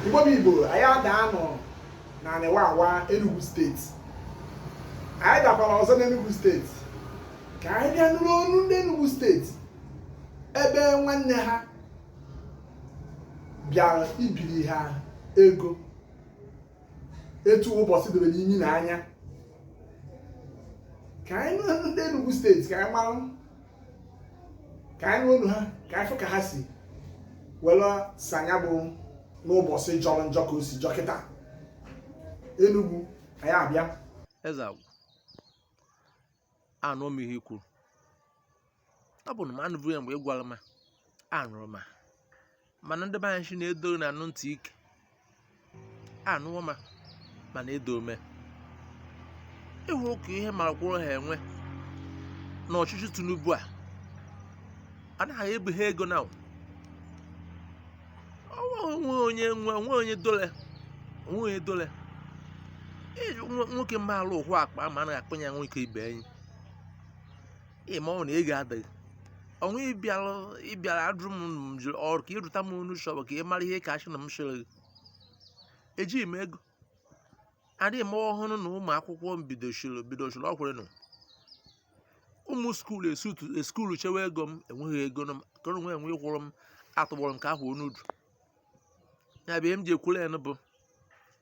Igbo bụ Igbo anyị adaanụ n'anị Wawa Enugu steeti anyị dabara ọzọ n'Enugu steeti ka anyị bịa nụrụ ọnụ ndị Enugu steeti ebe nwanne ha bịara ibiri ha ego etu ụbọchị doro imi na anya ka anyị nụ ọnụ ndị Enugu steeti ka anyị mara ka anyị nụ ọnụ ha ka anyị fụ ka ha si were saa ya bụ n'ụbọchị jọrọ njọ ka o si jọ kịta Enugu anyị abịa eziokwu anụ m ihe i kwuru ọ bụ na m anụbụghị ya mgbe ị gwara m anụrụ m mana ndị be anyị sị na-edo na anụ ntị ike anụwo ma mana edo ome ịhụ ka ihe marakwụrụ ha enwe na ọchịchị Tinubu a anaghị ebi ha ego na onwe onye nwe onwe onye dole onwe onye dole nwoke maalụ ụhụ akpa ma anaghị akpanye ya nwoke ibe enyi ị ma na ego adịghị ọnwa ịbịara ịbịara adụrụ m m jụrụ ọrụ ka ịrụta m onu shọbụ ka ị mara ihe ka achị na m chịrị gị ejighị m ego adịghị m ọhụrụ na ụmụ akwụkwọ m bidochiri bidochiri ọkwụrụ nụ ụmụ skuulu ESUT skuulu chewe ego m enweghị ego m ka onwe enwe ịkwụrụ m atụgbọrọ m ka ahụ onudu ya bụ ihe m ji ekwuru ya bụ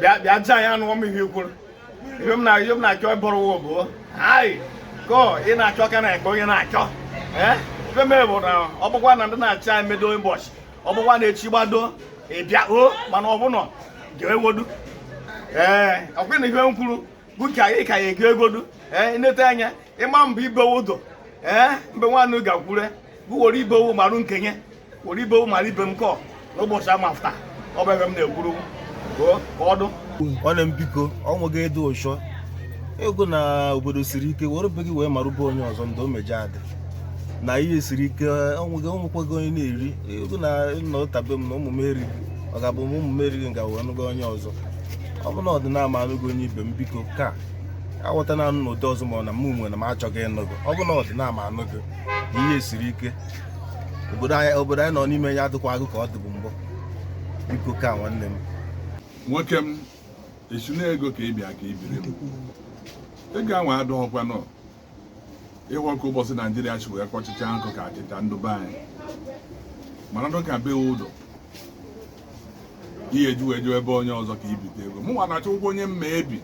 bịa bịa jaa ya anụọ m ihe kwuru ibe m na-achọ m na-achọ ịbụrụ wa bụ hai ko ị na-achọ ka na-ekpe onye na-achọ ee ibe m bụ na ọ bụkwa na ndị na-achị anyị medo ụbọchị ọ bụkwa na echi gbado ịbịa o mana ọ bụnọ ga-ewodu ee ọkwa na ihe m kwuru bụ ka ị ka ya ego egodu ee nleta anya ịma mbụ ibewe ụdọ ee mbe nwanne ga-akwure gụworo ibewu marụ nkenye oribe ụmara ibe m kọ n'ụbọchị ama afta ọ bụ ebe m na-ekwuru ka ọdụ nwanne m biko ọ nweghị ịdị ụchọ ego na obodo siri ike were be gị wee marụba onye ọzọ ndị o meje adị na ihe siri ike ọnwụghị ọnwụkwaghị onye na-eri ego na nna ụtabe m na ụmụ m erighị ọ ga-abụ m ụmụ m erighị nga wee nụga onye ọzọ ọ bụ na ọdịnala ma anụgo onye ibe m biko ka aghọta na anụ n'ụdị ọzọ ma ọ na m nwe na m achọghị ịnụgo ọ bụ na ọdịnala ma anụgo ihe siri ike obodo anyị obodo anyị nọ n'ime ya adịkwaghị ka ọ dịbu mbụ biko kwa nwanne m nwoke m esi na ego ka ị bịa ka ị biri m ego ahụ adọghọkwa nọ ị hụ ka obodo Naịjirịa si wee kọchịcha nkụ ka achịcha ndị be anyị mana ndụ ka bewe ụdọ ihe eji wee jewe ebe onye ọzọ ka ibite ego mụ nwa na-achọ ụgwọ onye m ga-ebi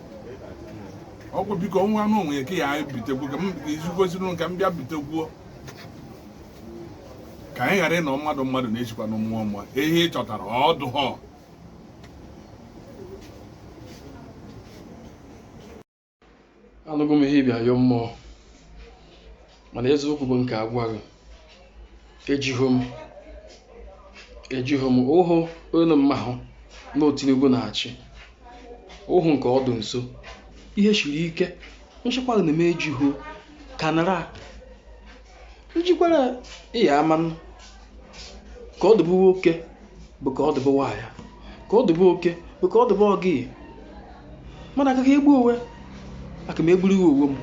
ego biko nwa anụ onwe ya ka ya bitekwu ka m izikwesịrị ka m bịa bitekwuo ka anyị ghara ịnọ mmadụ mmadụ na-ejikwa na mmụọ mmụọ ihe ị chọtara ọ dụhụ anụgo m ihe ịbịa yọọ mmụọ mana eziokwu bụ nke agwaghị ejiho m ejiho m ụhụ onye mma hụ na Tinubu na-achị ụhụ nke ọdụ nso ihe siri ike nchekwa na eme ejiho kanara njikwara ịya ama ka ọ dịbụ nwoke bụ ka ọ dịbụ nwaanyị ka ọ dịbụ oke bụ ka ọ dịbụ ọgị mmadụ aka egbu onwe aka m egburu iwe onwe m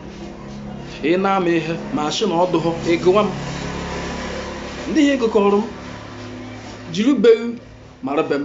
ị na-ama ihe m sị na ọ dụghọ ị gwa m ndị ihe gụkọrọ m jiri be ghị mara be m